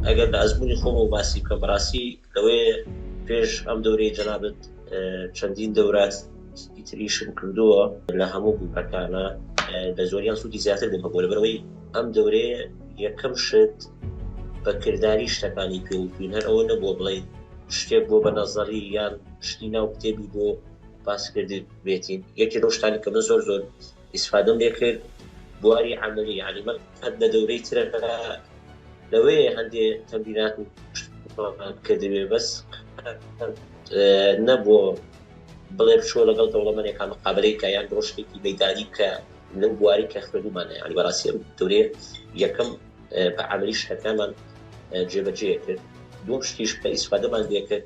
ئەگەر لە ئەزمونی خۆم و باسی بکە بەڕاستی لەوەیە پێش ئەم دەورەی جەنابەت چەندین دەورات تریشم کردووە لە هەموو گوپەکانە لە زۆریان سوودی زیاتر بوومە بۆ لەبەرەوەی ئەم دەورەیە یەکەم شت بە کردداری شتەکانی پێوتوین هەر ئەوە نەبووە بڵێ شتێک بۆ بە نەزەڕی یان شتی ناو کتێبی بۆ باسکردن بێتین یەکی لەو شتانی کە من زۆر زۆر ئیسفادەم لێ کرد بواری عملی علی من هەر لە دەورەی ترە لەوەیە هەندێ تەمبینات و کردوێ بەس نەبووە بڵێ بچۆ لەگەڵ دەوڵەمەێک کامە قابلەی کە یان ڕۆشتێکی مەدانی کە لەو بواری کە خوێنمانە ینی بەڕاستی دورێ یەکەم بە عملی شتەکانمان جێبەجێ کرد دوم شتیش کە ئیسفادەمان لێ کرد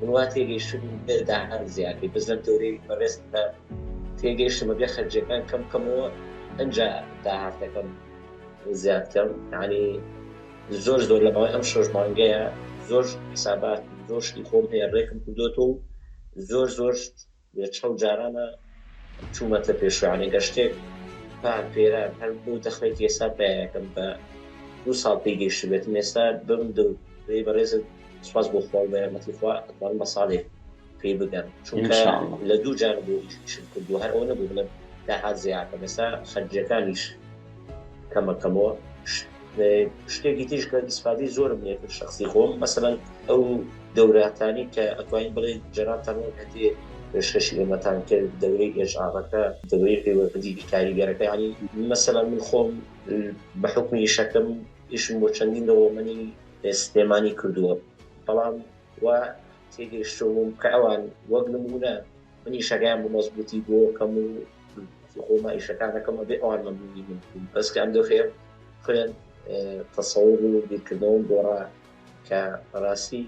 من وا تێگەیشتم بێت داهات زیاتر بەس لەم دەورەی بەڕێزتدا تێگەیشتم ئەبێ خەرجیەکان کەم کەمەوە ئەجا داهاتەکەم زیاد کەم ینی زۆر زۆر لە ماوەی ئەم شۆش مانگەیە زۆر حسابات زۆر شتی خۆم هەیە ڕێکم کردوەوە و زۆر زۆر چەند جارانە چوومەتە پێشوانە گەشتێک پار پێران هەر بۆ دەخمێکی ئێستا پیاکەم بە دوو ساڵ پێی گەیشتبێتم ئێستا بم دەو دەی بەڕێزت سپاس بۆ خوا و بە یارمەتی خوا ئەتوانم بە ساڵێک پێی بگەم چونکە لە دوو جارە بۆ ئیشم کردووە هەر ئەوە نەبوو بڵێم داهات زیاتر ئێستا خەرجیەکانیش کەمە کەمەوە شتێکی تیش کە ئیسفادەی زۆرم لێ کرد شخصی خۆم مەسەن ئەو دەوراتانی کە ئەتوانین بڵێ جەنابتان وەک هەندێ پێشکەشی ئێمەتان کرد دەورەی ئێژاڕەکە دەورەی پەیوەندیدی کاریگەرەکانی مەسەلا من خۆم بە حکمی ئیشەکەم ئیشم بۆ چەندین دەوڵەمەنی سلێمانی کردووە بەڵام و تێگەیشتوم کە ئەوان وەک نمونە من ئیشەکەیان بە مەزبوتی بۆ کەم و خۆما ئیشەکانەکەم ئەبێ ئەوان مەمنونی من بوون بەس کە ئەم دۆخێ خوێن تەسەور و بیرکردنەوەم گۆڕا کە ڕاستی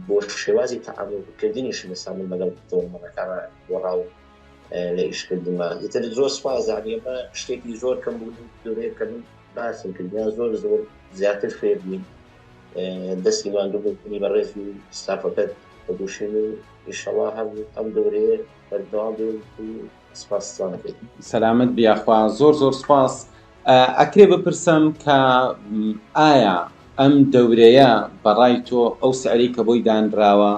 بۆ شێوازی تەعاملکردنیشم ئێستا من لەگەڵ تۆمەڵەکانە گۆڕا و لە ئیشکردنمان ئیتر زۆر سپاس زانی ئەمە شتێکی زۆر کەم بوون دورێت کە من باسم کردیان زۆر زۆر زیاتر فێر بووین دەستی ماندوو بوونی بەڕێز و ستافەکەت بەگوشین و ئیشەڵا هەر ئەم دەورەیە بەردەوام بێت و سپاستان بێت سەلامت بیاخوا زۆر زۆر سپاس ئەکرێ بپرسم کە ئایا ئەم دەورەیە بەڕای تۆ ئەو سعری کە بۆی دانراوە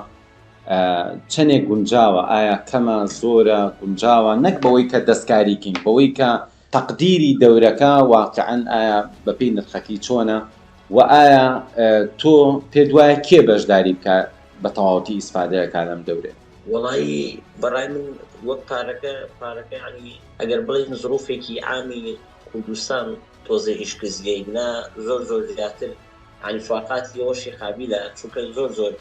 چەندێک گونجاوە ئایا کەمە زۆرە گونجاوە نەک بەوەی کە دەستکاریکەین بەوەی کە تەقدیری دەورەکە واقیعەن ئایا بەپێی نرخەکەی چۆنە؟ وە ئایا تۆ پێت وایە کێ بەشداری بکا بە تەواوەتی ئیسفادە ئەکا لەم دەورەیە؟ وەڵایی بەڕای من وەک پارەکە پارەکە یانی ئەگەر بڵێین زڕوفێکی عامی کوردستان تۆزێ ئیشکزیەی نا زۆر زۆر زیاتر علی فاقات هی ڕۆشی قابیلە چونکە زۆر زۆر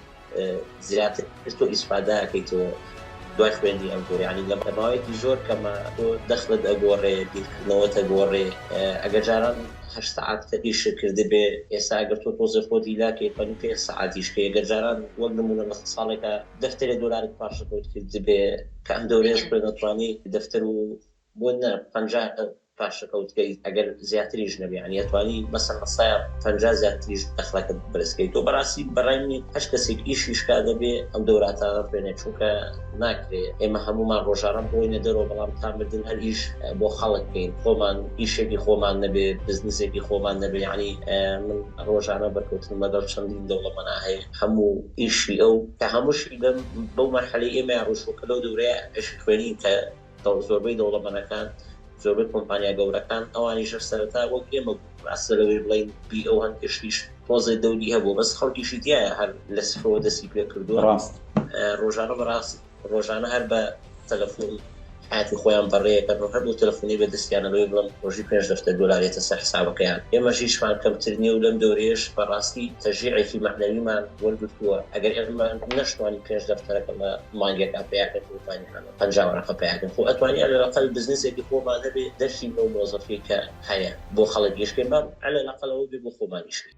زیاتر تۆ ئیسفادا ئەکەیتەوە دوای خوێندی ئەم جۆرە یانی لە ماوەیەکی زۆر کەمە تۆ دەخلت ئەگۆڕێ بیرکردنەوەت ئەگۆڕێ ئەگەر جاران هەشت سەعات کە ئیشت کردبێ ئێستا ئەگەر تۆ تۆزێ خۆت هیلا کەی پەنج پێنج سەعات ئیش کەی ئەگەر جاران وەک نموونە لە ساڵێکا دەفتەرێ دۆلارت پارچە کەوت کردبێ کە ئەم دەورەیەش خوێنەرتوانی دەفتەر و بۆ نا پەنجا پاشەکەوتکەیت ئەگەر زیاتریش نەبێ یانی ئەتوانی بەسە ڕەسایە پەنجا زیاتریش دەخڵەکە بەرزکەی تۆ بەڕاستی بەڕای منی هەشت کەسێک ئیشی شکا دەبێ ئەم دەوراتانە بێنێ چونکە ناکرێ ئێمە هەمومان ڕۆژانە بڕۆینە دەرەوە بەڵام تا مردن هەر ئیش بۆ خەڵک کەین خۆمان ئیشێکی خۆمان نەبێ بزنسێکی خۆمان نەبێ یانی من ڕۆژانە بەرکەوتنم لەگەڵ چەندین دەوڵەمەنا هەیە هەموو ئیشی ئەو کە هەمووشی بەم بەو مەرحەلەی ئێمەیان ڕۆشتوە کە لەو دەورەیە ئیشی خوێنین کە زۆربەی دەوڵەمەنەکان زۆربەی کۆمپانیا گەورەکان ئەوانیشە سەرەتا وەک ئێمە ئەسە لەوەی بڵین بی ئەو هەن گشتیش تۆزێ دەوری هەبوو بەس خەڵکیشی دیایە هەر لە سفرەوە دەستی پێ کردووە ڕاست ڕۆژانە بەڕاست ڕۆژانە هەر بە تەلەفۆن حاتی خۆیان بەڕێەکە ڕۆژە بۆ تەلفۆنی بە دەستیانەوەی بڵم ڕۆژی پێش دەفتە دۆلارێتە سەر حسابەکەیان ئێمە ژیشمان کەمتر نیە و لەم دەورێش بەڕاستی تەژیعێکی مەعنەویمان وەرگتووە ئەگەر ئێمە نەشتوانی پێش دەفتەرەکەمە مانگێکا پیاکە کوردانی هەن پەنجا وەرەقە پەیاکەن خۆ ئەتوانی عەلەلەقەل بزنسێکی خۆمان هەبێ دەرچین لەو مۆزەفەی کە هەیە بۆ خەڵک ئیش کەین با عەلەلەقەل ئەوە بێ بۆ خۆمان ئیش کەین.